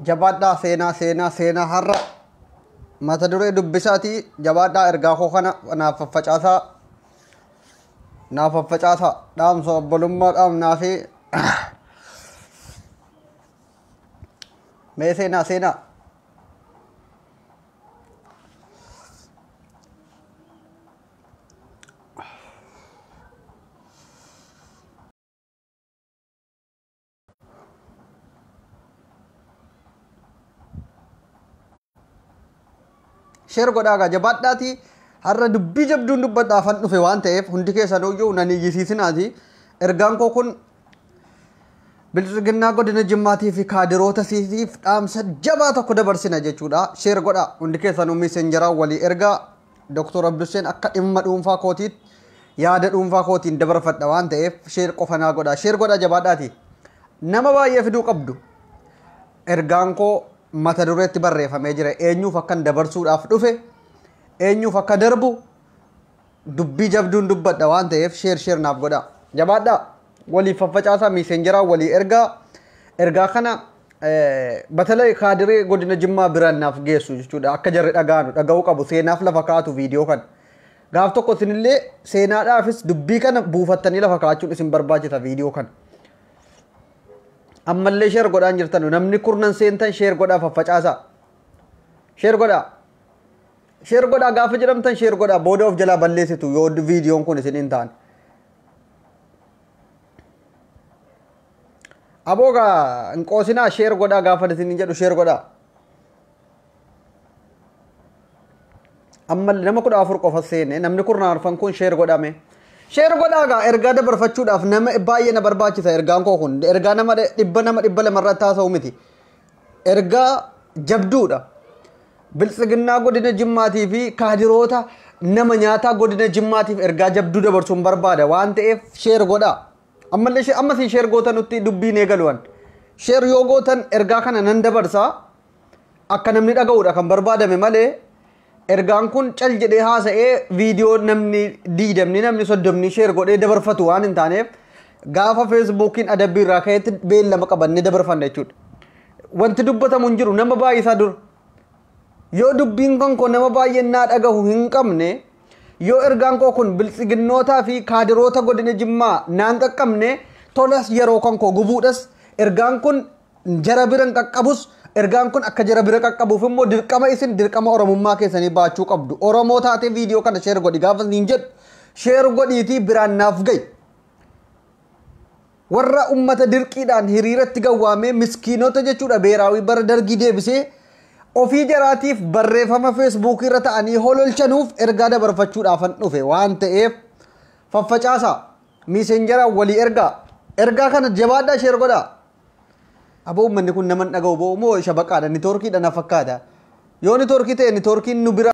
jabaadhaa seenaa seenaa seenaa har'a mata duree dubbisaati jabaadhaa ergaa koo kana naaf faffacaasaa naaf faffacaasaa dhaamsa obbolummaa dhaamnaa fi mee seenaa seenaa sheer godhaa gaa jabaadhaati har'a dubbii jabduun dubbadhaafan dhufe waan ta'eef hundi keessan hoyyuu nan iyyisiisinaati ergaan koo kun bilxiginnaa godina jimmaatii fi kaadiroota siitiif dhaamsa jabaa tokko dabarsina jechuudha sheer godhaa hundi keessanuu miisenjaraa walii ergaa Doktor Abdusseen akka dhimma dhuunfaa kootiitti yaada dhuunfaa kootiin dabarfadha waan ta'eef sheer qofa naa godhaa. Sheer godhaa jabaadhaati. Nama baay'ee fiduu qabdu. Ergaan koo mata dureetti barreeffamee jira. Eenyuuf akkan dabarsuudhaaf dhufe eenyuuf akka darbu dubbii jabduun dubbadha waan ta'eef sheer sheer naaf godhaa. Jabaadhaa! Waliif faffacaasaa miiseenjeraa walii ergaa. Ergaa kana batalai kaadiree godina jimmaa biraan naaf geessu jechuudha akka jarri dhagaanu dhaga'uu qabu seenaaf lafa kaatu viidiyoo kana. Gaaf tokko isinillee seenaadhaafis dubbii kana buufattanii lafa kaachuun isin barbaachisa viidiyoo kana. Ammallee sheer godhaan jirtanu namni kurnan seentan sheer godhaa faffacaasaa. Sheer godhaa. Sheer godhaa gaafa jedhamtan sheer godhaa booda of jalaa balleessitu yoo viidiyoon kun isin hin taane. Aboo gaa hin qoosinaa sheer godhaa gaafa isin jedhu sheer godhaa. Amma nama kudha afur qofa seene namni kurnan arfan kun sheer godhame. Sheer godhaa gaa ergaa dabarfachuudhaaf nama baay'ee na barbaachisa ergaan koo kun ergaa nama dhibba nama dhibba lama irratti haasa'u miti. Ergaa jabduudha. Biltsiginnaa godina Jimmaatii fi kaadiroota nama nyaataa godina Jimmaatiif ergaa jabduu dabarsuun barbaada waan ta'eef sheer godhaa. Ammallee she- ammas hin sheer goota nutti dubbiin eegaluwan. Sheer yoo gootan ergaa kana nan dabarsa akka namni dhaga'uudha kan barbaadame malee Ergaan kun cal jedhee haasa'ee viidiyoo namni diidamni namni soddomni sheer godhee dabarfatu waan hin taaneef gaafa feesbuukiin adabbii irraa ka'etti beellama qabannee dabarfanna jechuudha. Wanti dubbatamu hin jiru nama baay'isaa dura. Yoo dubbiin kan koo nama baay'een naa dhagahu hin qabne yoo ergaan koo kun biltsiginnootaa fi kaadiroota godina jimmaa naan qaqqabne tolas yeroo kan koo gubuudhas ergaan kun jara bira hin qaqqabus ergaan kun akka jara bira qaqqabuuf immoo dirqama isin dirqama oromummaa keessanii baachuu qabdu oromoo taatee viidiyoo kana sheer godhi gaafa isin jedhu sheer godhiitii biraan naaf ga'i warra ummata dirqiidhaan hiriiratti gawwaamee miskiinota jechuudha beeraawii bara dargii deebisee ofii jaraatiif barreeffama feesbuukii irra ta'anii hololchanuuf ergaa dabarfachuudhaafan dhufe waan ta'eef faffacaasaa miisenjaraan walii ergaa ergaa kana jabaadhaa sheer godhaa Aboo ummanni kun nama hin dhaga'u boo moo shabaqaadha nitoorkiidha na fakkaata yoo nitoorkii ta'e nitoorkiin nu bira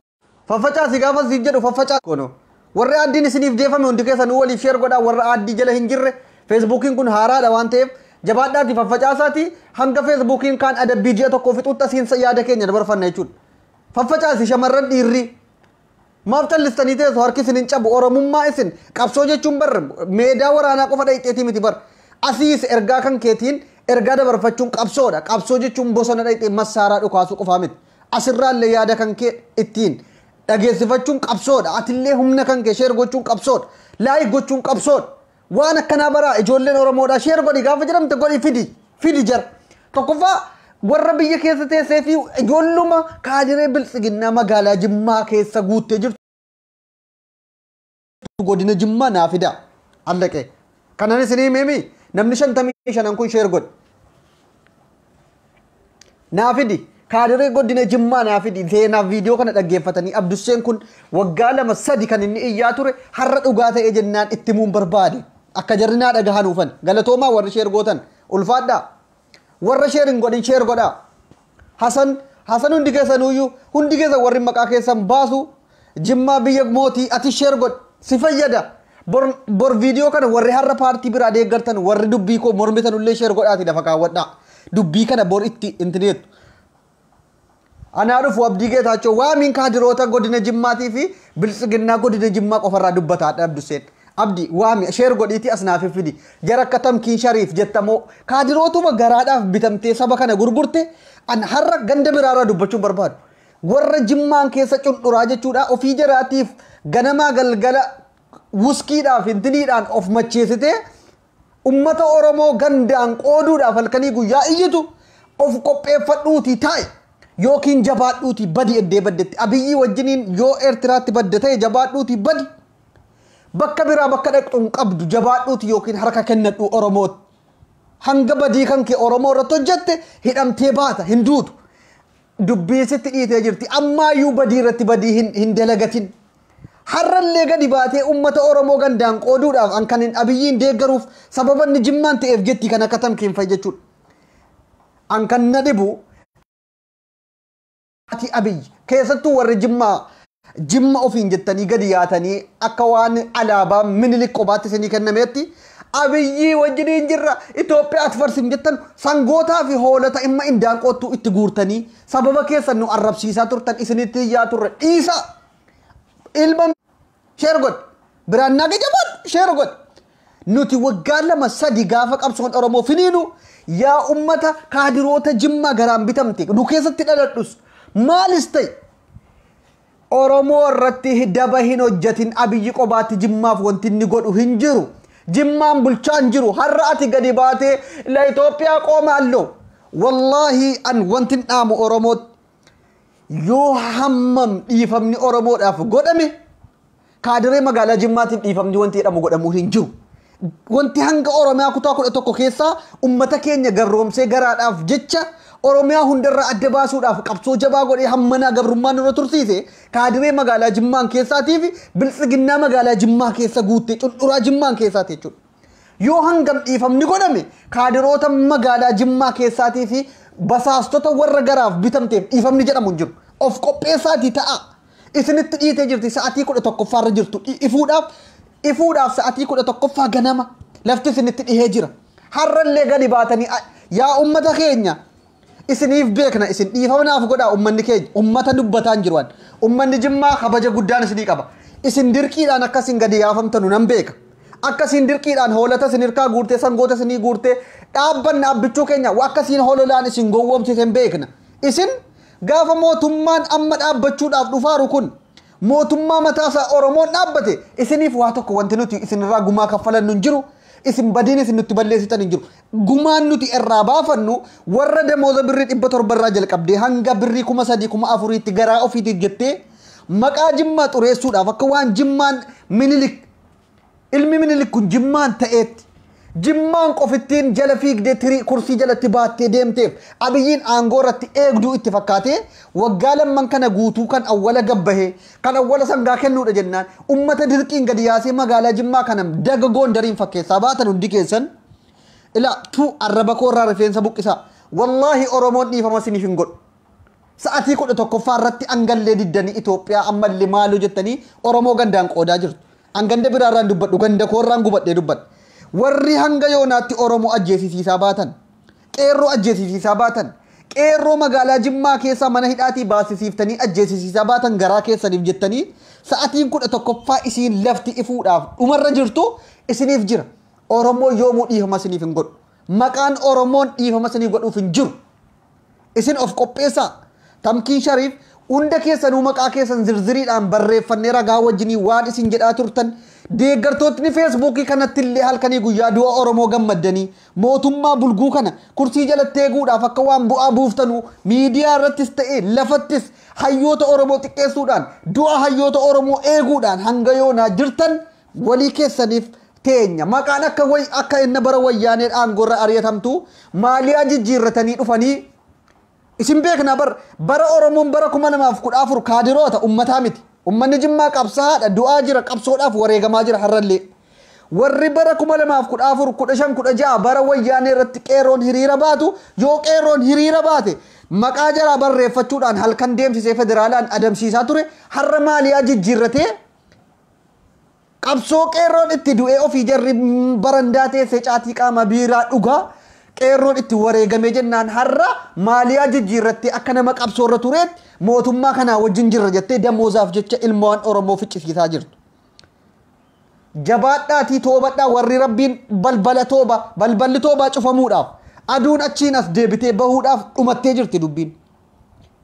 faffacaasi gaafa siif jedhu faffacaasi kono warri aaddiin isiniif geeffame hundi keessanuu waliif sheer godhaa warra aaddii jala hin jirre feesbuukiin kun haaraadha waan ta'eef jabaadhaati faffacaasaati hanga feesbuukiin kaan adabbii ji'a tokkoo fixuutti asiin yaada keenya dabarfanna jechuudha faffacaasi shamarran dhiirri Maaf callistanii teessu harki isin hin cabu oromummaa isin qabsoo jechuun bar meedaa waraanaa qofa dhayxeetii miti bar asiis ergaa kan keetiin ergaa dabarfachuun qabsoodha qabsoo jechuun bosona dhayxee massaaraa dhukaasuu qofaa miti asirraallee yaada kan kee ittiin dhageessifachuun qabsoodha atillee humna kan kee sheer gochuun qabsoodha laayik gochuun qabsoodha Waan akkanaa baraa ijoolleen Oromoodhaa sheer godhi gaafa jedhamte godhi fidi fidi jara. Tokkoffaa warra biyya keessa teessee fi ijoolluma kaadiree biltsiginnaa magaalaa Jimmaa keessa guuttee jirtu godina Jimmaa naa fidaa. Allaqee. Kanan isinii himee mii namni shantamii shanan kun sheer godhi. Naa fidi. Kaadiree godina Jimmaa naa fidi. Seenaaf viidiyoo kana dhaggeeffatanii Abdusseen kun waggaa lama sadi kan inni iyyaa ture har'a dhugaa ta'ee jennaan itti muun barbaade. Akka jarri naa dhagahanuufan. Galatoomaa warri sheer gootan. Ulfaadhaa. Warra sheer hin godhin sheer godhaa. Hasan Hasan hundi keessanuuyyuu hundi keessan warri maqaa keessan baasu Jimmaa biyya mootii atis share godhi si fayyada bor bor video kana warri har'a paartii biraa deeggartan warri dubbii koo mormitanullee share godhaati lafa kaawwadhaa dubbii kana bor itti intineettu anaa dhufu abdii geetaachoo waamiin kaadiroota godina jimmaatii fi biltsiginnaa godina jimmaa qofarraa dubbataa dha abdusseen abdi waami share godhiiti as naaf fidi jara akka tamkiin shariif jettamoo kaadirootuma garaadhaaf bitamtee saba kana gurgurte an har'a ganda biraarraa dubbachuun barbaadu Warra jimmaan keessa cundhuraa jechuudha ofii jaraatiif ganamaa galgala wuskiidhaaf intiniidhaan of macheessitee ummata Oromoo gandaan qooduudhaaf halkanii guyyaa iyyitu of qopheeffadhuutii taa'i yookiin jabaadhuutii badi eddee baddetti abiyyii wajjiniin yoo Eertiraatti badda ta'e jabaadhuutii badi bakka biraa bakka dhaqxu hin qabdu jabaadhuutii yookiin harka kennadhu Oromootti hanga badii kan kee Oromoo irratti hojjette hidhamtee baata hin duutu Dubbiin sitti dhiitee jirti. Ammaayyuu badii irratti badii hin, hin dalagatin. Har'allee gadi baatee uummata Oromoo gandaan qooduudhaaf an kan hin abiyyiin deeggaruuf sababa inni jimmaan ta'eef jetti kan akka tamkiin fa'i jechuudha. An kan na dhibu ati abiyyi keessattuu warri jimmaa Jimma ofiin jettanii gadi yaatanii akka waan alaabaa minilik qobaatti isinii kennameetti abiyyii wajjiniin jirra Itoophiyaa atfarsin jettan sangootaa fi hoolota imma indaanqoottuu itti guurtanii sababa keessan nu arrabsiisaa turtan isinitti iyyaa turre dhiisa ilma sheer godhi biraan naage jabaadhu sheer godhi nuti waggaa lama sadi gaafa qabsoon oromoo finiinu yaa ummata kaadiroota jimmaa garaan bitamte nu keessatti dhaladhus maalis ta'e Oromoo irratti daba hin hojjatin abiyyi qobaatti jimmaaf wanti inni godhu hin jiru jimmaan bulchaa hin jiru har'a ati gadi baatee la Itoophiyaa qooma alloo wallaahi an wanti hin dhaamu Oromootti yoo hammam dhiifamni Oromoodhaaf godhame Kaadiree magaalaa Jimmaatiin dhiifamni wanti jedhamu godhamuun hin jiru. Wanti hanga Oromiyaa kutaa kudha tokko keessaa ummata keenya garroomsee garaadhaaf jecha Oromiyaa hundarraa adda baasuudhaaf qabsoo jabaa godhee hammanaa gabrummaan nurra tursiise kaadiree magaalaa Jimmaan keessaatii fi biltsiginnaa magaalaa Jimmaa keessa guuttee cundhuraa Jimmaan keessaati jechuudha. Yoo hangam dhiifamni godhame kaadiroota magaalaa Jimmaa keessaatii fi basaastota warra garaaf bitamteef dhiifamni jedhamu hin jiru. Of qopheessaatii ta'a. Isinitti dhiitee jirti sa'atii kudha tokkoffaa irra jirtu ifuudhaaf ifuudhaaf sa'atii kudha tokkoffaa ganama lafti isinitti dhihee jira. Har'allee gadi baatanii yaa ummata keenya isiniif beekna isin dhiifama naaf godhaa ummanni keenya ummata dubbataa hin jiruan ummanni jimmaa kabaja guddaan isinii qaba isin dirqiidhaan akka isin gadi yaafamtanu nan beeka akka isin dirqiidhaan hoolata isin hirkaa guurtee sangoota isinii guurtee dhaabbanna abbichuu keenya akka isin hololaan isin gowwoomsite hin beekna isin Gaafa mootummaan amma dhaabbachuudhaaf dhufaaru kun mootummaa mataasaa Oromoon dhaabbate isiniif waa tokko wanti nuti isinirraa gumaa kaffalannu hin jiru. Isin badiin isin nutti balleessitan hin jiru. Gumaan nuti irraa baafannu warra damooza birrii dhibba torba irraa jalqabdee hanga birrii kuma sadii kuma afuriitti garaa ofiitiif jettee maqaa Jimmaa xureessuudhaaf akka waan Jimmaan Minilik Ilmi Minilik kun Jimmaan ta'eetti. Jimmaan qofittiin jala fiigdee tirii kursii jalatti baattee deemteef Abiyyiin aangoo irratti eegduu itti fakkaatee waggaa lamman kana guutuu kan awwala gabbahe, kan awwala sangaa kennuudha jennaan ummata dirqiin gadi yaasee magaalaa Jimmaa kana daga Goondariin fakkeessaa baatan hundi keessan. Ilaa, tuu, arraba koo irraa rifeensa buqqisaa. Wallaahi Oromoon dhiifama isiniif hin godhu. Sa'atii 11ffaa irratti angallee diddanii Itoophiyaa ammalle maaloo jettanii Oromoo gandaan qoodaa jirtu. An ganda biraa irraan dubbadhu ganda koo irraan gubadhee dubbadha. Warri hanga yoonaatti Oromoo ajjeesisiisaa baatan, qeerroo ajjeesisiisaa baatan, qeerroo magaalaa Jimmaa keessaa mana hidhaatii baasisiiftanii ajjeesisiisaa baatan garaa keessaniif jettanii sa'atiin 11ffaa isiin lafti ifuudhaaf dhumarra jirtu isiniif jira. Oromoo yoomuu dhiifama isiniif hin godhu. Maqaan Oromoon dhiifama isinii godhuuf hin jiru. Isin of qopheessaa! Tamkiin Shariif, Hunda keessanuu maqaa keessan zirziriidhaan barreeffannee ragaa wajjinii waan isin jedhaa turtan, deeggartootni Feesbuukii kanattillee halkanii guyyaa du'a Oromoo gammaddanii, mootummaa bulguu kana kursii jalatti eeguudhaaf akka waan bu'aa buuftanuu miidiyaa irrattis ta'e lafattis hayyoota Oromoo xiqqeessuudhaan, du'a hayyoota Oromoo eeguudhaan hanga yoonaa jirtan Walii keessaniif teenya. Maqaan akka way akka enna bara wayyaanee aangorra ari'atamtu maaliyaa jijjiirratanii dhufanii isin beeknaa bar bara Oromoon bara 2014 kaadiroota ummataa miti. Ummanni Jimmaa qabsaa'aadha du'aa jira qabsoodhaaf wareegamaa jira har'allee. Warri bara 2014 15 16 bara wayyaanee irratti qeerroon hiriira baatu yoo qeerroon hiriira baate maqaa jaraa barreeffachuudhaan halkan deemsisee federaalaan adamsiisaa ture har'a maaliyaa jijjiirratee Qabsoo qeerroon itti du'ee ofii jarri barandaa teessee caatii qaamaa biiraa dhugaa qeerroon itti wareegamee jennaan har'a maaliyaa jijjiirrattee akka nama qabsoo irra tureetti mootummaa kanaa wajjin jirra jettee damoozaaf jecha ilmoowwan Oromoo ficcisiisaa jirtu. Jabaadhaatii toobadhaa warri rabbiin balbala tooba balballi toobaa cufamuudhaaf aduun achiin as deebitee bahuudhaaf dhumattee jirti dubbiin.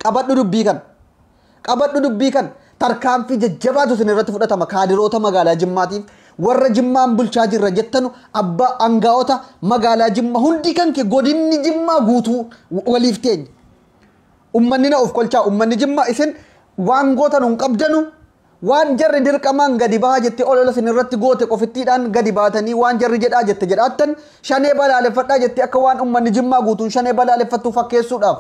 Qabadhu dubbii kana. Qabadhu dubbii kana. Tarkaanfii jajjabaatu isin irratti fudhatama kaadiroota magaalaa Jimmaatiif warra Jimmaan bulchaa jirra jettanu abbaa angaa'ota magaalaa Jimmaa hundi kan kee godinni Jimmaa guutuu waliif teenya. Ummanni na of kolchaa ummanni Jimmaa isin waan gootanu hin qabdanu Waan jarri dirqamaan gadi bahaa jettee olola isin irratti goote qofittiidhaan gadi baatanii waan jarri jedhaa jette jedhaattan Shanee balaaleffadhaa jettee akka waan ummanni Jimmaa guutuun Shanee balaaleffattu fakkeessuudhaaf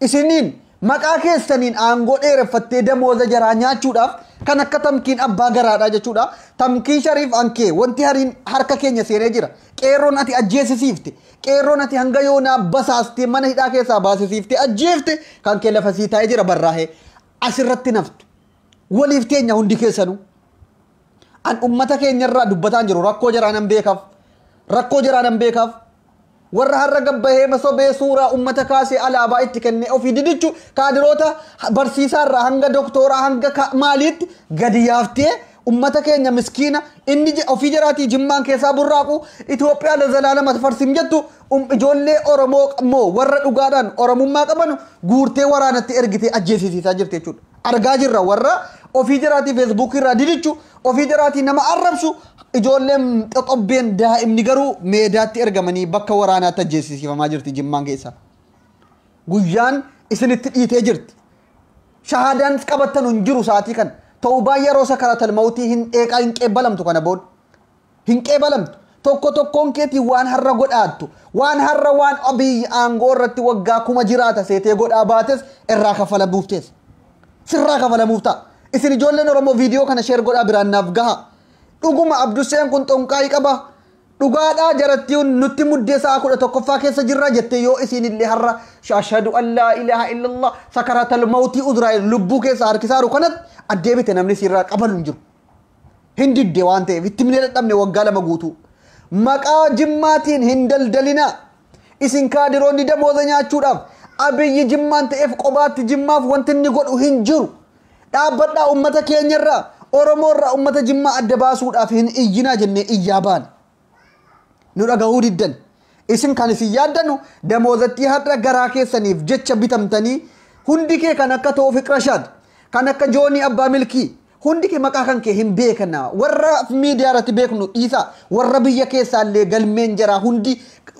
isiniin maqaa keessaniin aangoo dheereffattee damooza jaraa nyaachuudhaaf kan akka Tamkiin abbaa garaadhaa jechuudha. Tamkiin Shariif Ankee wanti hariin harka keenya seenee jira. Qeerroon ati ajjeesisiifte, qeerroon ati hanga yoonaa basaastee mana hidhaa keessaa baasisiiftee ajjeefte kan kee lafa sii taa'ee jira barraahee asirratti naftu. waliif teenya hundi keessanuu. An ummata keenya irraa dubbataan jiru rakkoo jaraa nan beekaaf. Rakkoo jaraa nan beekaaf. Warra har'a gabbahee masobee suuraa ummata kaasee alaabaa itti kennee ofii didichu kaadiroota barsiisaa irraa hanga doktooraa hanga ka- maaliitti gadi yaaftee ummata keenya miskiina inni je- ofii jaraatii jimmaan keessaa burraaqu Itoophiyaa lazalaalama farsim jettu um- ijoollee Oromoo moo warra dhugaadhaan Oromummaa qabanu guurtee waraanatti ergitee ajjeesisiisaa jirti jechuudha. argaa jirra warra ofii jaraatii feesbuukii irraa didichu ofii jaraatii nama arrabsu ijoolleen xoxobbeen daa'imni garuu meedaatti ergamanii bakka waraanaatti ajjeesisiifamaa jirti jimmaan keessa guyyaan isinitti dhiitee jirti shahaadaan qabattan hin jiru sa'aatii kan ta'uu baay'ee yeroo sakaratal mawtii hin dheeqaa hin qeebbalamtu kana booda Hin qeebalamtu. Tokko tokkoon keetii waan har'a godhaattu, waan har'a waan Abiy aangoo irratti waggaa kuma jiraata seetee godhaa baates irraa kaffalamuuf teessa. Sirraa kafalamuuf ta'a. Isin ijoolleen Oromoo viidiyoo kana sheer godhaa biraan naaf gahaa. Dhuguma Abdusseen kun xonqaayi qaba. Dhugaadhaa jarattiin nutti muddee sa'a kudha tokkoffaa keessa jirra jettee yoo isiin illee har'a ashhadu an laa ilaaha illallah sakaratal mawtii uzraa'el lubbuu keessa harkisaaru kanatti addeebite namni siirraa qabalu hin jiru. Hin didde waan ta'eef itti himnee dadhabne waggaa lama guutuu. Maqaa jimmaatiin hin daldalinaa. Isin kaadiroonni damooza nyaachuudhaaf abiyyi jimmaan ta'eef qobaatti jimmaaf wanti inni godhu hin jiru. Dhaabbadhaa ummata keenyarraa Oromoorraa ummata jimmaa adda baasuudhaaf hin iyyinaa jennee iyyaa baane. nu dhagahuu diddan isin kan isin yaaddanu damoozattii har'a garaa keessaniif jecha bitamtanii hundi kee kan akka toofiq rashaad kan akka joonii abbaa milkii hundi kee maqaa kan kee hin beekna warra miidiyaa irratti beeknu dhiisa warra biyya keessaa illee galmeen jaraa hundi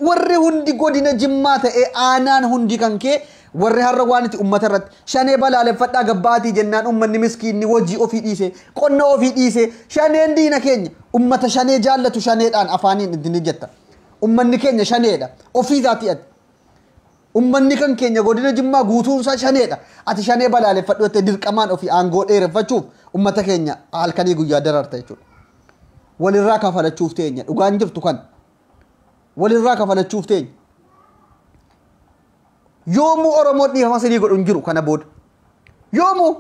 warri hundi godina jimmaa ta'ee aanaan hundi kan kee Warri har'a waan itti ummata irratti shanee balaaleffadhaa gabba'aatii jennaan ummanni miskiinni hojii ofii dhiisee, qonna ofii dhiisee shaneen diina keenya ummata shanee jaallatu shaneedhaan afaaniin itti ni jetta. Ummanni keenya shaneedha. Ofii isaatii ati. Ummanni kan keenya godina Jimmaa guutuun isaa shaneedha. Ati shanee balaaleffadhu jettee dirqamaan ofii aangoo dheereffachuuf ummata keenya halkanii guyyaa dararta jechuudha. Walirraa kafalachuuf teenya. Dhugaan jirtu kan. Walirraa kafalachuuf teenya. Yoomuu Oromoon dhiifama sinii godhu hin jiru kana booda. Yoomuu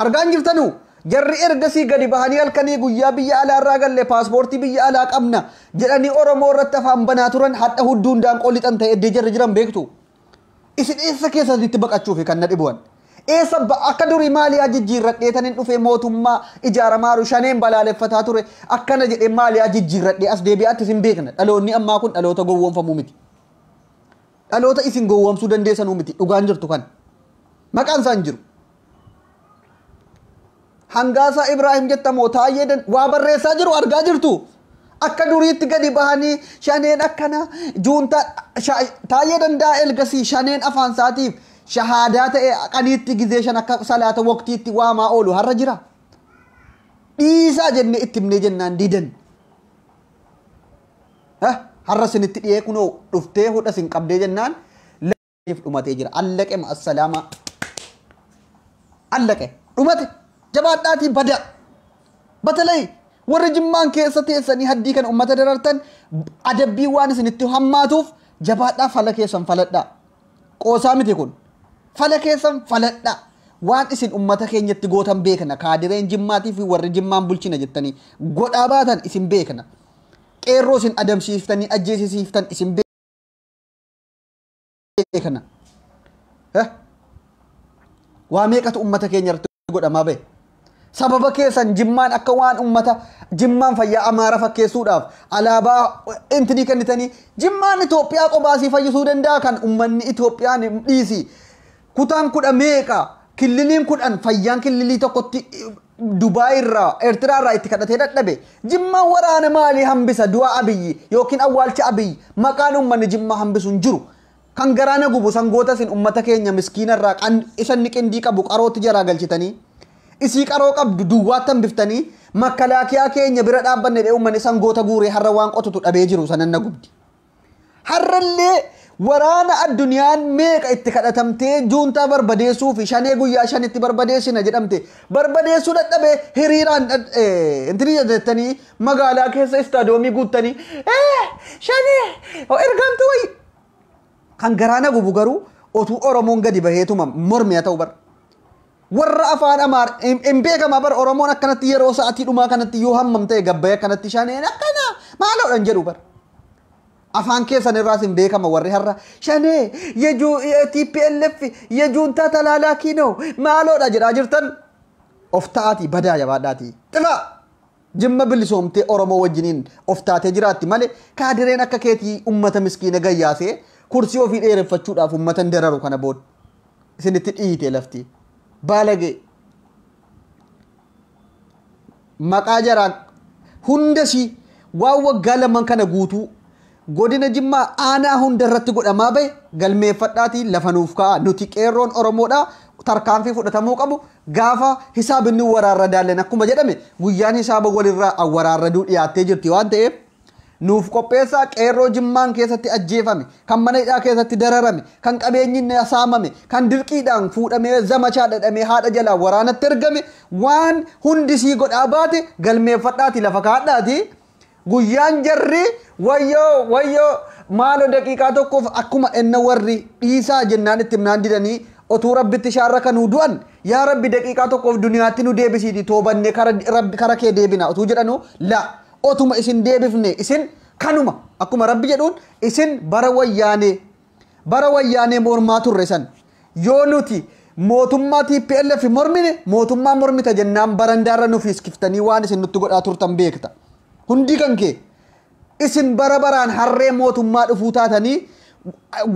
argaan jirtanuu jarri ergasii gadi bahanii halkanii guyyaa biyya alaa irraa galle paaspoortii biyya alaa qabna jedhanii Oromoo irratti afaan banaa turan hadha hudduu hundaan qolixan ta'e eddee jarri jiran beektu. Isin eessa keessanitti baqachuufi kan na dhibu an? Eessa ba- akka durii maaliyaa jijjiirradhee tanin dhufee mootummaa ijaaramaaru shaneen balaaleffataa ture akkana jedhee maaliyaa jijjiirradhee as deebi'aatti isin beekna dhaloonni ammaa kun dhaloota gowwoomfamuu miti. Dhaloota isin gowwoomsuu dandeessanuu miti dhugaan jirtu kan maqaan isaan jiru. Hangaasaa Ibraahim jetta moo taayee dan waa barreessaa jiru argaa jirtu. Akka duriitti gadi bahanii shaneen akkana juuntaa taayee danda'a elgasii shaneen afaan isaatiif shahaadaa ta'e qaniitti gizee shan akka salaata waqtiitti waamaa oolu har'a jira. Dhiisaa jennee itti himnee jennaan didan. Har'a isinitti dhiyee kunoo dhuftee hodha isin qabdee jennaan siif dhumatee jira allaqe ma assalaamaa allaqe dhumate jabaadhaatii badaa batalay warri jimmaan keessa teessanii haddii kana ummata darartan adabbii waan isinitti hammaatuuf jabaadhaa fala keessan faladhaa qoosaa miti kun fala keessan faladhaa waan isin ummata keenyatti gootan beekna kaadireen jimmaatii fi warri jimmaan bulchina jettanii godhaa baatan isin beekna qeerroo isin adamsiiftanii ajjeesisiiftan isin beekna. ta'e kana eh, waa meeqatu ummata keenya irratti godhamaa bahe sababa keessan jimmaan akka waan ummata jimmaan fayyaa amaara fakkeessuudhaaf alaabaa intinii kennitanii jimmaan Itoophiyaa qobaasii fayyisuu danda'a kan ummanni Itoophiyaan dhiisi Kutaan kudha meeqa? Killiliin kudhan fayyaan killilii tokkotti Dubaay irraa Eertiraa irraa itti kadhatee dadhabe. Jimmaan waraana maalii hambisa du'a Abiyyi yookiin awwaalcha Abiyyi maqaan uummanni Jimmaa hambisu hin jiru. Kan garaa na gubu sangoota isin uummata keenya miskiina irraa qan isa inni qindii qabu qarootti jalaa galchitanii isii qaroo qabdu duwwaatti hambiftanii makkalaakiyaa keenya bira dhaabbanne jedhee uummanni sangoota guuree har'a waan qotutu dhabee jiru sanan na gubdi. Har'allee waraana addunyaan meeqa itti kadhatamtee juuntaa barbadeessuu fi shanee guyyaa shanitti barbadeessina jedhamte barbadeessuu dadhabee hiriiraan intini jettanii magaalaa keessa istaadoomii guuttanii ee shanee ergamtu wayyi kan garaa na gubu garuu otuu Oromoon gadi baheetuma mormiya ta'u bara. Warra afaan amaar hin beekama bar oromoon akkanatti yeroo sa'atii dhumaa kanatti yoo hammam ta'e gabbaya kanatti shaneen akkana maaloodhan jedhu bar. Afaan keessan irraas hin beekama warri har'a shanee yejuu TPLF yejuuntaa talaalaa kiinoo maaloodha jedhaa jirtan of ta'aatii badaa jabaadhaatii xifaa. Jimma bilisoomtee Oromoo wajjiniin of taatee jiraatti malee kaadireen akka keetii ummata miskiina gayyaasee kursii ofii dheereffachuudhaaf ummatan dararu kana booda isinitti dhiitee lafti baalagee maqaa jaraa hunda ishii waan waggaa lamaan kana guutuu Godina Jimmaa aanaa hunda irratti godhamaa bahe galmeeffadhaatii lafa nuuf ka'aa nuti qeerroon Oromoodha tarkaanfii fudhatamuu qabu gaafa hisaabinni waraarra daallen akkuma jedhame guyyaan hisaaba walirraa awwaraarraduu dhiyaattee jirti waan ta'eef nuuf qopheessaa qeerroo jimmaan keessatti ajjeefame kan mana hidhaa keessatti dararame kan qabeenyi saamame kan dirqiidhaan fuudhamee zamachaa dhadhamee haadha jalaa waraanatti ergame waan hundisii godhaa baate galmeeffadhaati lafa kaadhaati Guyyaan jarri wayyoo wayyoo maaloo daqiiqaa tokkoof akkuma enna warri dhiisaa jennaan itti himnaan didanii otuu rabbitti shaarra kanuu du'an yaa rabbi daqiiqaa tokkoof duniyaatti nu deebisiiti toobanne kara rabbi kara kee deebina otuu jedhanu la otuma isin deebifne isin kanuma akkuma rabbi jedhuun isin bara wayyaanee Bara wayyaanee mormaa turre san yoo nuti mootummaa tplf mormine mootummaa mormita jennaan barandaarra nu fiiskiftanii waan isin nutti godhaa turtan beekta. Hundii kan kee isin bara baraan harree mootummaa dhufuu taatanii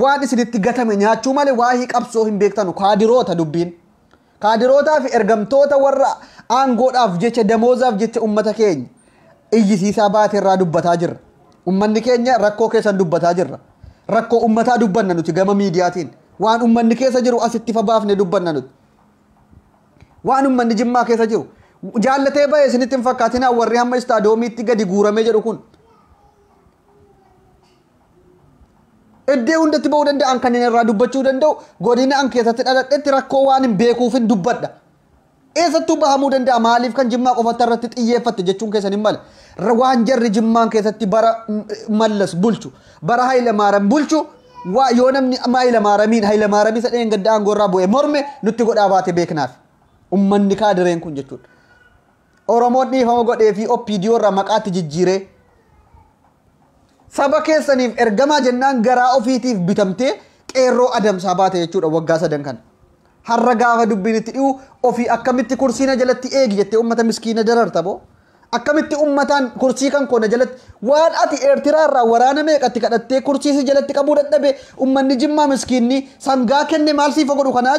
waan isinitti gatame nyaachuu malee waa'ee qabsoo hin beektanu kaadiroota dubbiin. Kaadirootaa fi ergamtoota warra aangoodhaaf jecha damoozaaf jecha ummata keenya iyyisiisaa baate irraa dubbataa jirra. Ummanni keenya rakkoo keessan dubbataa jirra. Rakkoo ummataa dubbanna nuti gama miidiyaatiin. Waan ummanni keessa jiru asitti ifa baafne dubbanna nuti. Waan ummanni jimmaa keessa jiru. Jaallatee bahe isinitti hin fakkaatinaa warri hamma istaadoomiitti gadi guuramee jedhu kun. Iddee hundatti ba'uu danda'an kan inni irraa dubbachuu danda'u godina an keessatti dhaladhetti rakkoo waan hin beekuufin dubbadha. Eessattuu bahamuu danda'a maaliif kan jimmaa qofatti irratti xiyyeeffatte jechuun keessan hin male. Waan jarri jimmaan keessatti bara mallas bulchu bara Haayila Maaram bulchu waa yoo namni Haayila Maaramiin Haayila Maaramii isa dheen gadda aangoo irraa bu'e morme nutti godhaa baate beeknaaf. Ummanni kaadireen kun jechuudha. Oromoon dhiifama godheefii OPDO irraa maqaa itti jijjiiree. Saba keessaniif ergamaa jennaan garaa ofiitiif bitamtee qeerroo adamsaa baate jechuudha waggaa sadan kana. Har'a gaafa dubbiin itti dhi'u ofii akkamitti kursii na jalatti eegi jettee uummata miskiina dararta boo. Akkamitti uummataan kursii kan koo na jalatti waan ati Eertiraa irraa waraana meeqatti kadhattee kursii si jalatti qabuu dadhabe uummanni jimmaa miskiinni sangaa kenne maal siifa godhu kanaa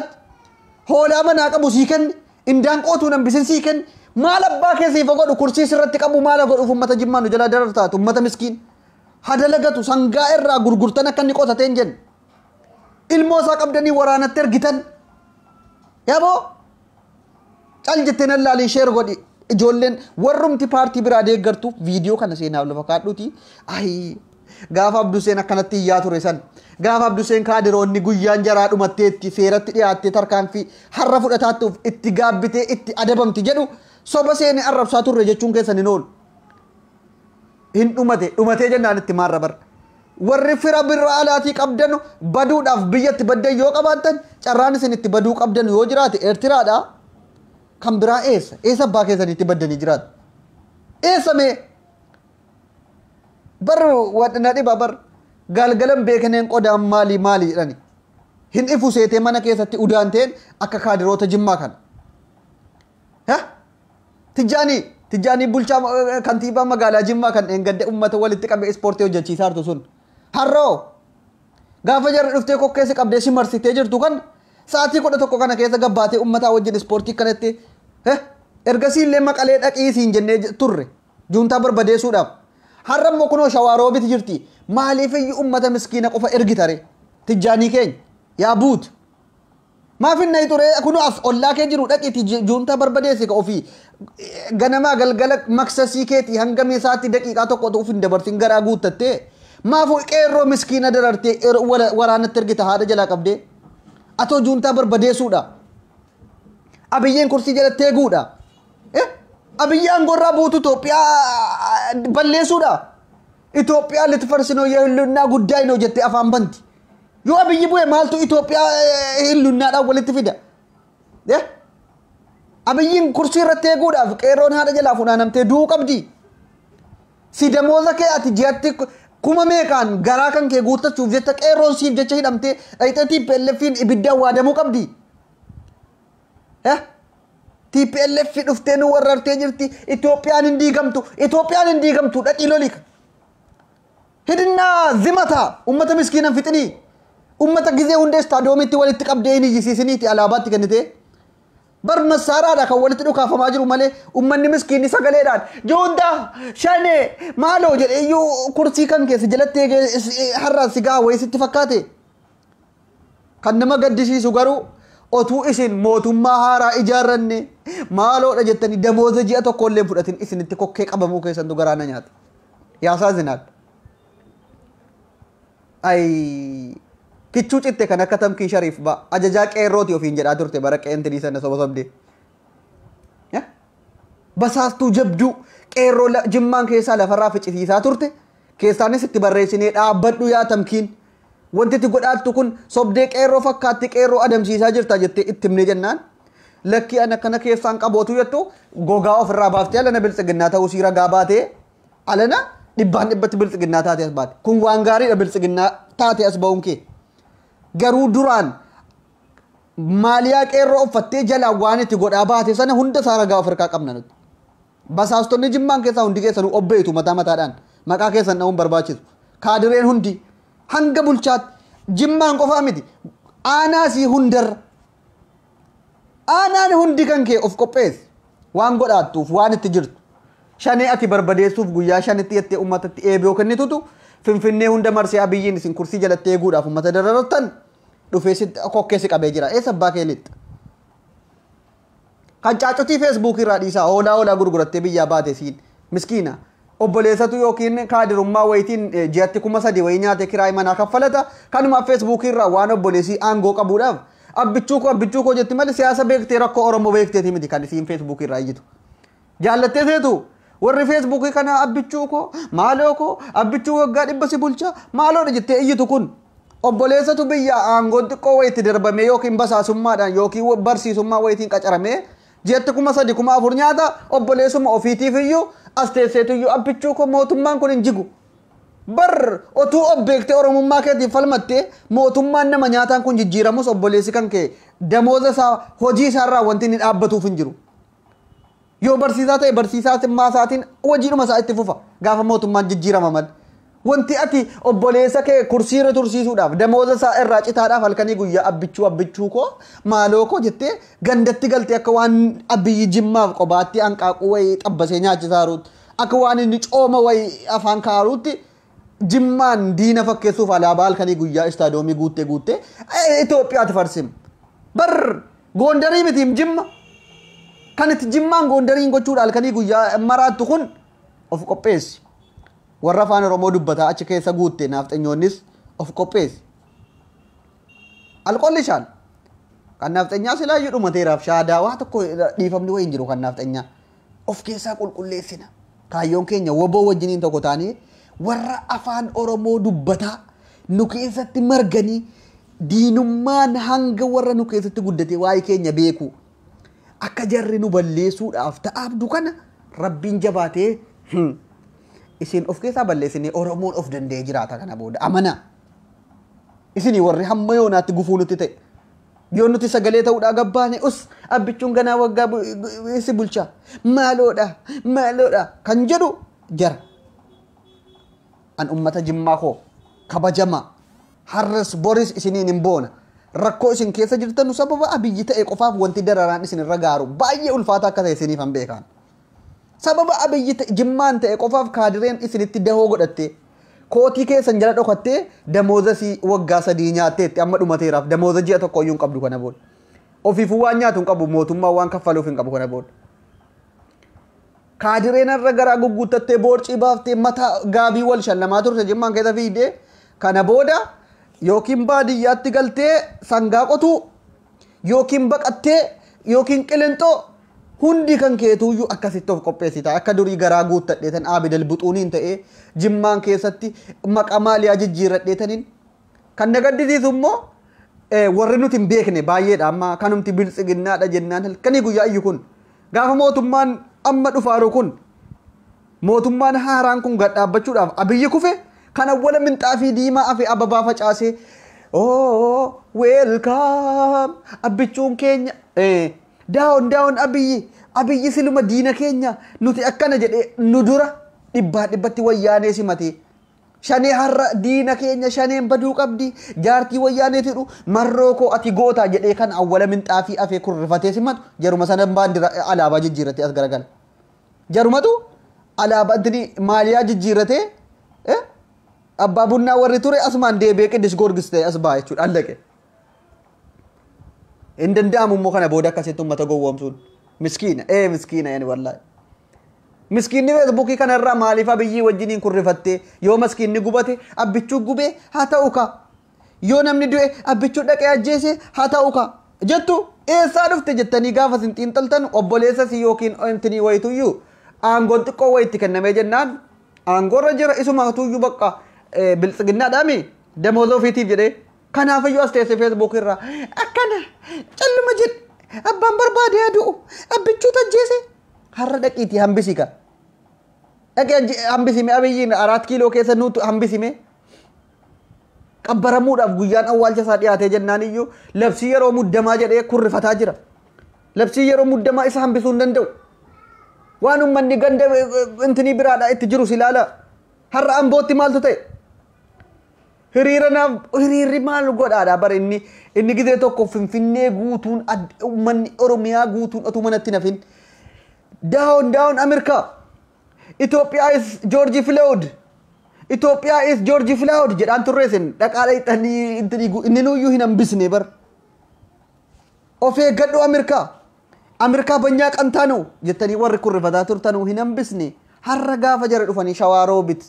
hoolaa manaa qabu sii kenne Indaanqoo tun hambisen sii ken maal abbaa kee siif godhu kursii sirratti qabu maala godhuuf ummata jimmaa nu jalaa darartaatu ummata miskiin hadalagatu sangaa irraa gurgurtan akka inni qotateen jenna ilmoo isaa qabdanii waraanatti ergitan yaboo cal jettee nan laaliin sheer godhi ijoolleen warrumti paartii biraa deeggartuuf viidiyoo kana seenaaf lafa kaadhuuti ayii Gaafa Abduseen akkanatti iyyaa ture san gaafa Abduseen kaadiroonni guyyaan jaraa dhumatteetti seeratti dhiyaattee tarkaanfii har'a fudhataattuuf itti gaabbitee itti adabamti jedhu soba seenee arrabsaa turre jechuun keessan hin oolu. Hin dhumate dhumatee jennaan itti maarra barra. Warri fira birra alaatii qabdanu baduudhaaf biyyatti baddan yoo qabaattan carraan isin itti baduu qabdanu yoo jiraate Eertiraadha. Kan biraa eessa? Eessa abbaa keessaniitti baddanii jiraatu? Eessa mee? bar wan na dhiba bar galgalan beekeneen qodaan maali maali jedhani hin ifu seetee mana keessatti udaanteen akka kaadiroota jimmaa kana ha tijjaanii tijjaanii bulchaa eh, kantiibaa magaalaa jimmaa kan dheengadde ummata walitti qabee ispoortii hojjechiisaa jirtu sun har'oo gaafa jarri dhuftee kokkeessi qabdee si marsitee jirtu kan sa'aatii kudha tokko kana keessa gabbaatee ummataa wajjin ispoortii kanatti eh, ergasii illee maqalee dhaqii siin jennee j- turre Juuntaa barbadeesuudhaaf. Har'a immoo kunoo shawaa roobiti jirti. Maaliif iyyuu ummata miskiina qofa ergitare? Tijjaanii keenya. Yaa buut. Maaf hin dhayi ture kunoo as ollaa kee jiru dhaqiiti juuntaa barbadeessi ka ofii ganamaa galgala maksasii keeti hanga meesaatti daqiiqaa tokko utuu hin dabarsin garaa guuttattee maaf qeerroo miskiina darartee waraanatti ergita haadha jalaa qabdee atoo juuntaa barbadeessuudha. Abiyyeen kursii jalatti eeguudha. Eh? Abiyyi aangoo irraa buutu Itoophiyaa balleessuudha. Itoophiyaa litfarsinoo yoo hillunnaa guddaa hin hojjette afaan banti. Yoo abiyyi bu'e maaltu Itoophiyaa eh, hillunnaadhaan walitti fida? Eh? Abiyyiin kursii irratti eeguudhaaf qeerroon haadha jalaa funaanamtee du'uu qabdi. Si damooza kee ati ji'atti kuma meeqaan garaa kan kee guuttachuuf jecha qeerroon siif jecha hidhamtee dhayxee TPLFiin ibiddaan waadamuu qabdi. Eh? TPLF dhuftee nu warrartee jirti. Itoophiyaan hin diigamtu. Itoophiyaan hin diigamtu. Dhaqii lolika. Hidinnaa zimata ummata miskiinan fixinii. Ummata gizee hundee istaadoomitti walitti qabdee hin iyyisiisiniiti alaabaatti kennitee. Bar massaaraadha kan walitti dhukaafamaa jiru malee ummanni miskiinni sagaleedhaan juuntaa shanee maaloo jedhe iyyuu kursii kan keessa jalatti eegee is- i- har'aan si gaha wayii sitti fakkaate. Kan nama gaddisiisu garuu otuu isin mootummaa haaraa ijaarranne maaloodha jettanii damooza ji'a tokko illee hin fudhatin isinitti kokkee qabamuu keessantu garaa na nyaata. Yaasaa zinaadha. Ayii kichuu citte kan akka tamkii shariif ba ajajaa qeerrooti ofiin jedhaa turte bara qeentirii sana soba sobdee. Ya? Basaastuu jabduu qeerroo la- jimmaan keessaa lafarraa ficisiisaa turte keessaanis itti barreessinee dhaabbadhu yaa tamkiin. Wanti itti godhaattu kun sobdee qeerroo fakkaatti qeerroo adamsiisaa jirta jettee itti himnee jennaan. Lakkii ana kana keessaan qabootu jettu gogaa ofirraa baaftee alana biltsiginnaa ta'uu sii ragaa baatee Alana dhibbaan dhibbatti bilxiginnaa taate as baate. Kun waan gaariidha bilxiginnaa taate as ba'uun kee. Garuu duraan maaliyaa qeerroo uffattee jalaan waan itti godhaa baate sana hunda isaa ragaa of harkaa qabna nuti. Basaastonni jimmaan keessaa hundi keessanuu obbeetu mataa mataadhaan maqaa keessan dha'uun barbaachisu. Kaadireen hundi hanga bulchaatti jimmaan qofaa miti aanaasii hundarra Aanaan hundi kan kee of qopheessi. Waan godhaattuuf, waan itti jirtu. Shanee ati barbadeessuuf guyyaa shanitti jettee uummatatti eeboo kennitutu Finfinnee hunda marsee Abiyyiin isin kursii jalatti eeguudhaaf uummata dararartan dhufee si kokkee si qabee jira. Eessa abbaa kee lixxa? Kan caacutii feesbuukii irraa dhiisaa hoolaa hoolaa gurgurattee biyyaa baate siin miskiina Obboleessatu yookiin kaadirummaa wayitiin ji'atti kuma sadii wayii nyaatee kiraay manaa kaffalata. Kanuma feesbuukii irraa waan obboleessii aangoo qabuudhaaf abbichuu koo abbichuu koo jetti malee siyaasa beektee rakkoo Oromoo beekteeti miti kan isiin feesbuukii irraa iyyitu. Jaallattee seetu warri feesbuukii kana abbichuu koo maaloo koo abbichuu waggaa dhibba si bulcha maaloodha jettee iyyitu kun obboleessatu biyyaa aangoon xiqqoo wayitti darbamee yookiin basaasummaadhaan yookiin barsiisummaa wayitiin qacaramee Jeetti kuma sadi kuma afur nyaata obboleessuma ofiitiif iyyuu as teesseetu iyyuu abbichuu koo mootummaan kun hin jigu. Bar otuu of beektee oromummaa keetiif falmattee mootummaan nama nyaataan kun jijjiiramus obboleessi kan kee damooza isaa hojii isaarraa wanti inni dhaabbatuuf hin jiru. Yoo barsiisaa ta'e barsiisaa simmaa isaatiin hojiidhuma isaa itti fufa gaafa mootummaan jijjiirama malee. Wanti ati obboleessa kee kursii irra tursiisuudhaaf damooza isaa irraa citaadhaaf halkanii guyyaa abbichuu abbichuu koo maaloo koo jettee gandatti galtee akka waan abiyyi jimmaaf qobaatti hanqaaquu wayii xabbasee nyaachisaa jiruutti akka waan inni cooma wayii afaan kaaruutti jimmaan diina fakkeessuuf alaabaa halkanii guyyaa istaadoomii guuttee guuttee Itoophiyaatti farsim bar goondarii mitiim jimma kan itti jimmaan goondariin gochuudha halkanii guyyaa maraattu kun of qopheessi. Warra Afaan Oromoo dubbataa achi keessa guutte naafxenyoonnis of qopheessi. Alqolli shaal. Kan naafxenyaa silaayyuu dhumateeraaf shaadaa waa tokko dhiifamni wayii hin jiru kan naafxenyaa. Of keessaa qulqulleessina. Kaayyoon keenya woboo wajjiniin tokko taanee warra Afaan Oromoo dubbataa nu keessatti marganii diinummaan hanga warra nu keessatti guddate waa'ee keenya beeku akka jarri nu balleessuudhaaf ta'aabdu kana rabbiin jabaatee isin of keessaa balleessinee oromoon of danda'ee jiraata kana booda amanaa isinii warri hamma yoonaatti gufuu nutti ta'e yoo nuti sagalee ta'uudhaa gabbaane us abbichuun ganaa waggaa si bulchaa maaloodha maaloodha kan jedhu jara an ummata jimmaa koo kabajamaa Har'as boris isiniin hin boona. Rakkoo isin keessa jirtanu sababa Abiyyi ta'e qofaaf wanti dararaan isin irra gaaru baay'ee ulfaataa akka ta'e isiniifan beekaan. Sababa Abiyyi ta'e jimmaan ta'e qofaaf kaadireen isinitti dahoo godhattee kootii keessan jala dhokattee damooza isii waggaa sadii nyaatteetti amma dhumateeraaf damooza ji'a tokko iyyuu hin qabdu kana booda. Ofiifuu waan nyaatu hin qabu mootummaa waan kaffaluuf hin qabu kana booda. Kaadireen har'a garaa gugguuttattee boorcii baaftee mataa gaabii wal shallamaa turte jimmaan keessa fiigdee Kana booda yookiin baadiyyaatti galtee sangaa qotuu yookiin baqattee yookiin qilinxoo hundi kan keetuuyyuu akkasitti of qopheessita. Akka durii garaa guuttadheetan Aabidal Buxuuniin ta'ee jimmaan keessatti maqaa maaliyaa jijjiirradheetaniin kan na gaddisiisu immoo eh, warri nuti hin beekne baay'eedha amma kanumti biltsiginnaadha jennaan halkanii guyyaa iyyu kun gaafa mootummaan amma dhufaaru kun Mootummaan haaraan kun gad dhaabbachuudhaaf Abiyyi kufe kan awwala minxaafii diimaa afe ababaa facaasee oo weelkaam abbichuun keenya eh, daawon daawon Abiyyi Abiyyi siluma diina keenya nuti akkana jedhee nu dura dhibbaa dhibbatti wayyaanee simatee shanee har'a diina keenya shaneen baduu qabdi jaartii wayyaaneetu jedhu marroo koo ati gootaa jedhee kan awwala minxaafii afee kun rifatee simatu jaruma sana baandira alaabaa jijjiirratee as garagala. Jarumatu alaabaa intini maaliyaa jijjiirratee eh, abbaa bunnaa warri ture asumaan deebi'ee qiddis goorgis ta'e as ba'a jechuudha allaqe. Hin danda'amu immoo kana booda akkasitti uummata gowwoomsuun miskiina ee miskiina yani wallaahi. Miskiinni feesbuukii kanarraa maaliif abiyyii wajjiniin kurrifattee yoo miskiinni gubate abbichuu gubee haa ta'u kaa. yoo namni du'e abbichuu dhaqee ajjeese haa ta'u kaa jettu eessaa dhufte jettanii gaafa isin xiinxaltan obboleessa isii yookiin intinii wayituyyuu aangoon xiqqoo wayitti kennamee jennaan aangoorra jira isuma hatuyyuu bakka eh, biltsiginnaadhaami damooza ofiitiif jedhee kanaafiyyuu as teessee feesbuuk irraa akkana calluma jedhe abbaan barbaade haa du'u abbichuu tajjeese har'a dhaqiitii hambisii kaa dhaqee ajje- hambisime abiyyiin araat kiiloo keessa nuutu hambisime Qabbaramuudhaaf guyyaan awwaalcha isaa dhiyaatee jennaan iyyuu labsii yeroo muddamaa jedhee kurrifataa jira. Labsii yeroo muddamaa isa hambisuu hin danda'u. Waan uummanni ganda intinii biraadhaa itti jirus ilaala. Har'a ambootti maaltu ta'e? Hiriira naaf hiriirri maal godhaadha bara inni inni gizee tokko finfinnee guutuun uummanni Oromiyaa guutuun otuu manatti nafin daawon daawon Ameerikaa. Itoophiyaa is Joorji Filood. Itoophiyaa is Joorji Filood jedhaan turree sin dhaqaa dhaqxanii inni nuyyuu hin hambisne bar. Of eeggadhu Ameerikaa. Ameerikaa banyaa qantaanu jettanii warri kun rifataa turtanuu hin hambisne har'a gaafa jara dhufanii shawaa roobit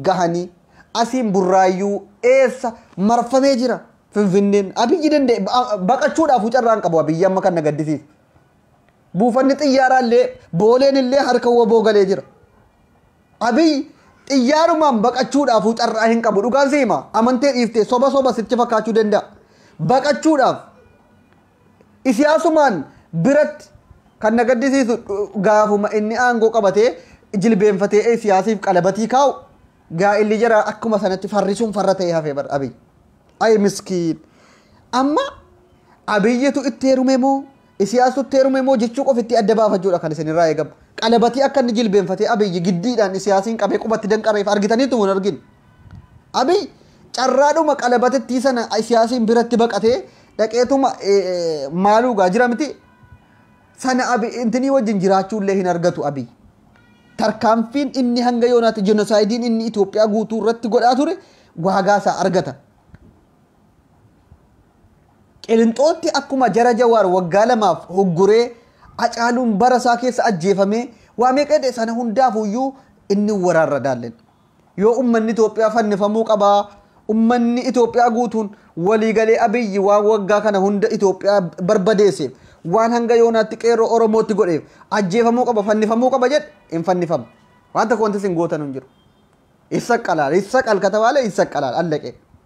gahanii asiin burraayyuu eessa marfamee jira finfinneen abiyyi danda'e baqachuudhaaf carraan qabu abiyyi amma kan na gaddisiisu. Buufanni xiyyaaraa illee booleen illee harka waboo galee jira. Abiy xiyyaarumaan baqachuudhaafuu carraa hin qabu dhugaan si hima amantee dhiiftee soba soba sitti fakkaachuu danda'a. Baqachuudhaaf isiyaasumaan biratti kan na gaddisiisu gaafuma inni aangoo qabatee jilbeenfatee siyaasiif qalabatii kaa'u gaa'illi jara akkuma sanatti farrisuun farra ta'ee hafee bara abiy. Ayi miskiin. Amma abiyyitu itti heerume moo Isiyaasutti heerume moo jechuu qofa ittii adda baafachuudha kan isinirraa eegamu. Qalabatii akka inni jilbeenfatee Abiyyi giddiidhaan Isiyaasiin qabee qubatti danqareef argitaniittu moo hin argine? Abiy carraadhuma qalabatittii sana Isiyaasiin biratti baqatee dhaqeetuma maaluu gaa jira miti? Sana intinii wajjin jiraachuullee hin argatu Abiy. Tarkaanfiin inni hanga yoonaatti jenoosaaydiin inni Itoophiyaa guutuu irratti godhaa ture waagaa isaa argata. Qilinxootti akkuma jara Jawaar waggaa lamaaf hugguree Acaaluun bara isaa keessa ajjeefamee waa meeqa hidhe sana hundaafuyyuu inni waraarra daallen. Yoo ummanni Itoophiyaa fannifamuu qabaa ummanni Itoophiyaa guutuun waliigalee Abiyyi waan waggaa kana hunda Itoophiyaa barbadeesseef waan hanga yoonaatti qeerroo Oromootti godheef ajjeefamuu qaba fannifamuu qaba jedhe hin fannifamu. Waan tokko wanti isin gootan hin jiru. Issaqqalaal issaqqal katabaale issaqqalaal allaqee.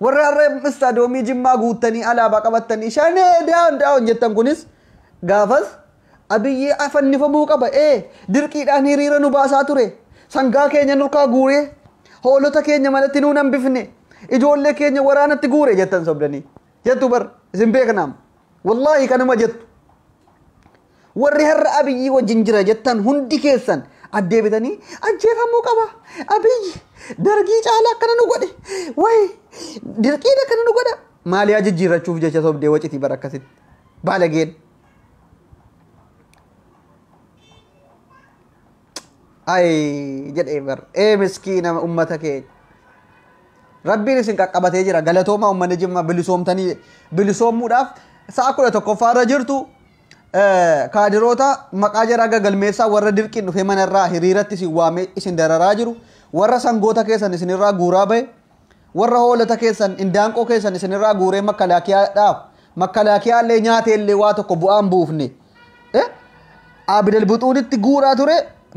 Warri har'a Istaadiyoomii Jimmaa guuttanii alaabaa qabattanii Shanee Down Down jettan kunis gaafas Abiyyi fannifamuu qaba ee dirqiidhaan hiriira nu baasaa ture sangaa keenya nurkaa guuree hoolota keenya manatti nuun hambifne ijoollee keenya waraanatti guure jettan sobdanii jettu bar isin beeknaam wallaahi kanuma jettu Warri har'a Abiyyii wajjin jira jettan hundi keessan addeebitanii ajjeefamuu qaba. Abiyyi dargii caalaa akkana nu godhe. Wayi dirqiin akkana nu godha. Maaliyaa jijjiirrachuuf jecha sobdee wacitii bara akkasitti. Baalageen. Ayi jedhee bar. Ee miskiina uummata keenya. Rabbiin isin qaqqabatee jira. Galatoomaa uummanni jimmaa bilisoomtanii bilisoommuudhaaf sa'a kudha tokkoffaa irra jirtu kaadiroota maqaa jaraa gagalmeessaa warra dirqiin dhufee mana irraa hiriiratti isin waamee isin dararaa jiru warra sangoota keessan isinirraa guuraa bahe warra hoolota keessan indaanqoo keessan isinirraa guuree makalaakiyaadhaaf makalaakiyaa illee nyaatee illee waa tokko bu'aan buufne abidalbuxuunitti guuraa ture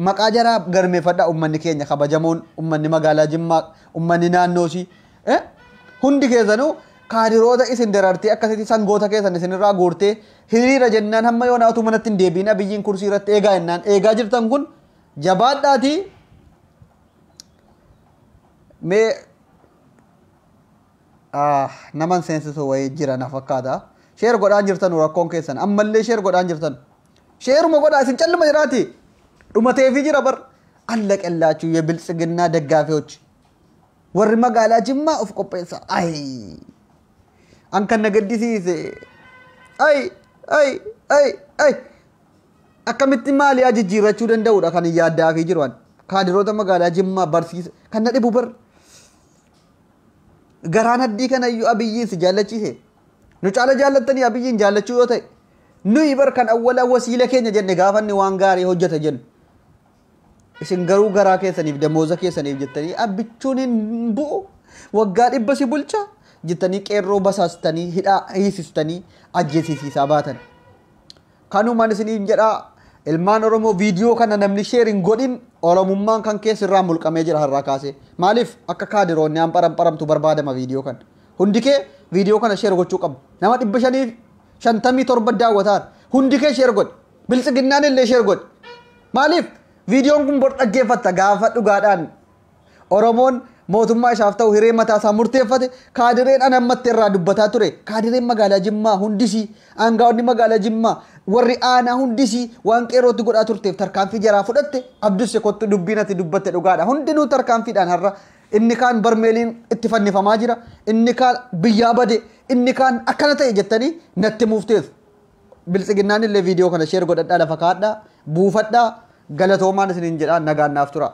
maqaa jaraa galmeeffadha ummanni keenya kabajamoon ummanni magaalaa jimmaa ummanni naannoosii Eh? Hundi keessanuu kaadiroota isin darartee akkasitti sangoota keessan isinirraa guurtee hiriira jennaan hamma yoonaa utuu manatti hin deebiin abiyyiin kursii irratti eegaa jennaan eegaa jirtan kun jabaadhaatii mee ah, naman seensisu wayii jira na fakkaata sheer godhaan jirtanu rakkoon keessan ammallee sheer godhaan jirtanu sheeruma godhaa isin calluma jiraati dhumateefii jira bar allaqellaachuu ye biltsiginnaa deggaafiyochi Warri magaalaa Jimmaa of qopheessa. Ayi! An kan na gaddisiise. Ayi! Ayi! Ayi! Ayi! Akkamitti maaliyaa jijjiirrachuu danda'udha kan hin yaaddaafii jiru an. Kaadiroota magaalaa Jimmaa barsiisa. Kan na dhibu bar. Garaan addii kanayyuu abiyyiin si jaallachiise. Nu caala jaallattanii abiyyiin jaallachuu yoo ta'e. Nuyi bar kan awwala wasiila keenya jenne gaafanni waan gaarii hojjeta jennu. Isin garuu garaa keessaniif damooza keessaniif jettanii abbichuun hin bu'u waggaa dhibba si bulcha jettanii qeerroo basaastanii hidhaa hiisistanii ajjeesiisiisaa baatan. Kanumaan isiniin jedhaa ilmaan Oromoo viidiyoo kana namni sheer hin godhin Oromummaan kan keessa irraa mulqamee jira har'aa kaasee. Maaliif akka kaadiroonni aan param paramtu barbaadama viidiyoo kana. Hundi kee viidiyoo kana sheer gochuu qabu. Nama dhibba shanii shantamii torba daawwataan hundi kee sheer godhi. Biltsiginnaan illee share godhi. Maaliif viidiyoon kun bor dhaggeeffatta gaafa dhugaadhaan Oromoon mootummaa isaaf ta'u hiree mataa isaa murteeffate kaadireen an ammatti irraa dubbataa ture kaadireen magaalaa Jimmaa hundisii aangaa'onni magaalaa Jimmaa warri aanaa hundisii waan qeerootti godhaa turteef tarkaanfii jaraa fudhatte abdusse kottu dubbiin ati dubbatte dhugaadha hundinuu tarkaanfiidhaan har'a inni kaan barmeeliin itti fannifamaa jira inni kaan biyyaa bade inni kaan akkana ta'e jettanii natti muufteessu Biltsiginnaanillee viidiyoo kana sheer godhadhaa lafa kaa'adhaa buufadhaa galatoomaan isiniin jedhaa nagaan naaf turaa.